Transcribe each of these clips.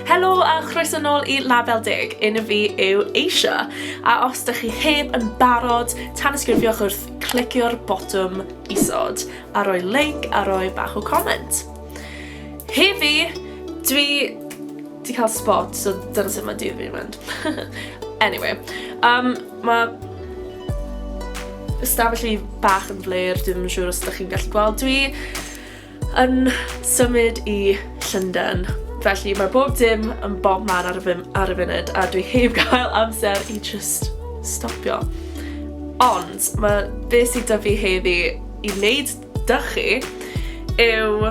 Helo a chroeso nôl i Label Deg, enw fi yw Asia, a os dych chi heb yn barod, tanysgrifiwch wrth clicio'r botwm isod, a roi like a roi bach o comment. Hefi, dwi di cael spot, so dyna sut mae dydd fi'n mynd. anyway, um, mae ystafell fi bach yn flair, dwi ddim yn siŵr os ydych chi'n gallu gweld. Dwi yn symud i Llundain. Felly mae bob dim yn bob man ar y, ar y funud a dwi heb gael amser i just stopio. Ond mae beth sydd da fi heddi i wneud da chi yw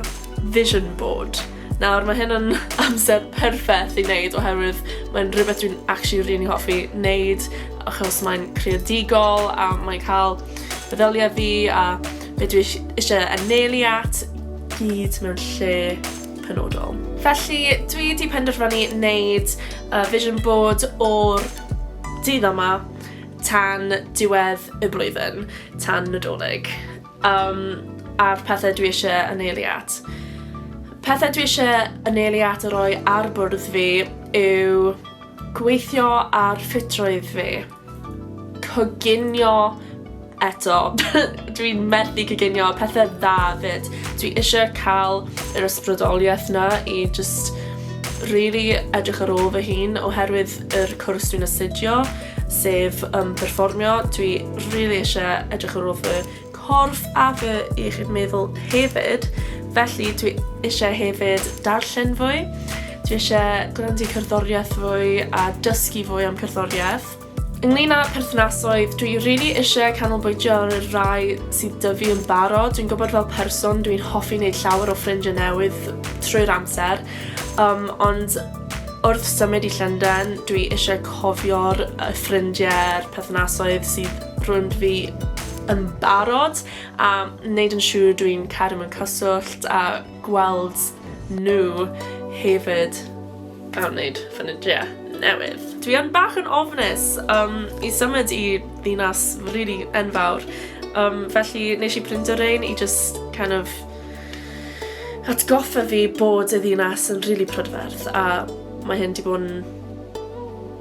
vision board. Nawr mae hyn yn amser perffaith i wneud oherwydd mae'n rhywbeth dwi'n actually rili really hoffi wneud achos mae'n creadigol a mae'n cael feddyliau fi a be dwi eisiau anelu at gyd mewn lle penodol. Felly dwi wedi penderfynu wneud uh, vision board o'r dydd yma tan diwedd y blwyddyn, tan Nadolig, um, a'r pethau dwi eisiau anelu at. Pethau dwi eisiau anelu at a roi ar bwrdd fi yw gweithio ar ffitrwydd fi. coginio eto. Dwi'n methu coginio pethau dda fyd. Dwi eisiau cael yr ysbrydoliaeth na i just really edrych ar ôl fy hun oherwydd yr cwrs dwi'n astudio, sef um, perfformio. Dwi really eisiau edrych ar ôl fy Corff a fy iechyd meddwl hefyd, felly dwi eisiau hefyd darllen fwy, dwi eisiau gwrando cerddoriaeth fwy a dysgu fwy am cerddoriaeth. Ynglyn â perthnasoedd, dwi rili really eisiau canolbwyntio ar y rhai sydd dyfu yn barod. Dwi'n gwybod fel person dwi'n hoffi wneud llawer o ffrindiau newydd trwy'r amser, um, ond wrth symud i Llundain, dwi eisiau cofio'r ffrindiau'r perthnasoedd sydd rwy'n fi yn barod a wneud yn siŵr dwi'n cadw mewn cyswllt a gweld nhw hefyd a wneud ffynidiau newydd. Dwi yn bach yn ofnus um, i symud i ddinas really enfawr, um, felly nes i prind o'r ein i just kind of atgoffa fi bod y ddinas yn really prydferth a mae hyn di bod yn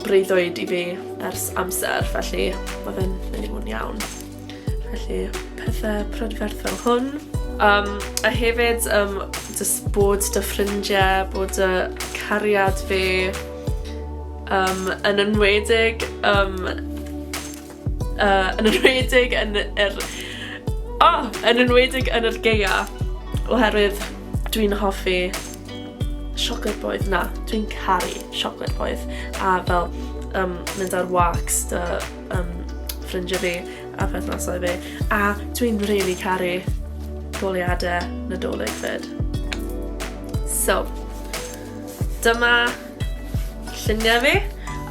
breuddwyd i fi ers amser, felly mae fe'n mynd i fod yn iawn. Felly, pethau prydferth fel hwn. Um, a hefyd, um, just bod dy ffrindiau, bod dy cariad fi um, yn enwedig um, Uh, yn enwedig yn yr... Oh, yn enwedig yn yr geia. Oherwydd dwi'n hoffi siocled boedd. Na, dwi'n caru siocled boedd. A fel um, mynd ar walks dy um, ffrindiau fi a perthnasau fi. A dwi'n rili really caru goliadau nadolig fyd. So, dyma lluniau fi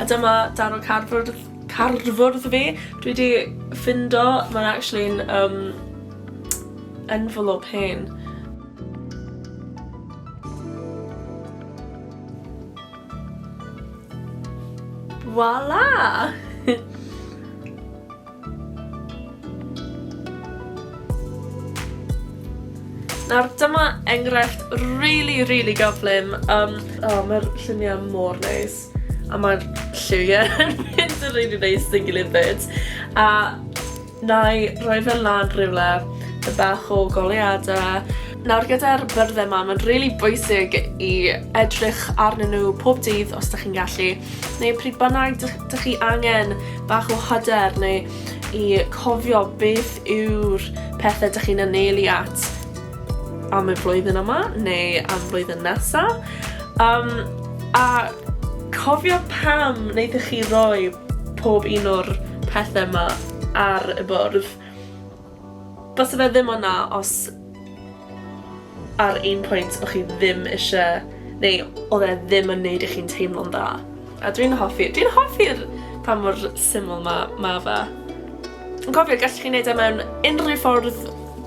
a dyma darw cardboard cardfwrdd fi dwi 'di ffindo ma'n actually'n yym envelope hen. Voila! Nawr dyma enghraifft rili rili gyflym yym o ma'r llunie mor neis. A mae'r lliwiau yn mynd yn rili neis yn gilydd fyd. A na i roi fe lan rhywle, y bach o goleadau. Nawr gyda'r byrddau yma, mae'n rili bwysig i edrych arnyn nhw pob dydd os da chi'n gallu, neu pryd bynnag da chi angen bach o hyder neu i cofio beth yw'r pethau da chi'n anelu at. am y flwyddyn yma neu am flwyddyn nesa. Um, a cofio pam wnaethoch chi roi pob un o'r pethau yma ar y bwrdd. Bas fe ddim o'na os ar un pwynt o'ch chi ddim eisiau, neu oedd e ddim yn neud i chi'n teimlo'n dda. A dwi'n hoffi, dwi'n hoffi'r pa mor syml mae ma fe. Yn cofio, gallwch chi wneud e mewn unrhyw ffordd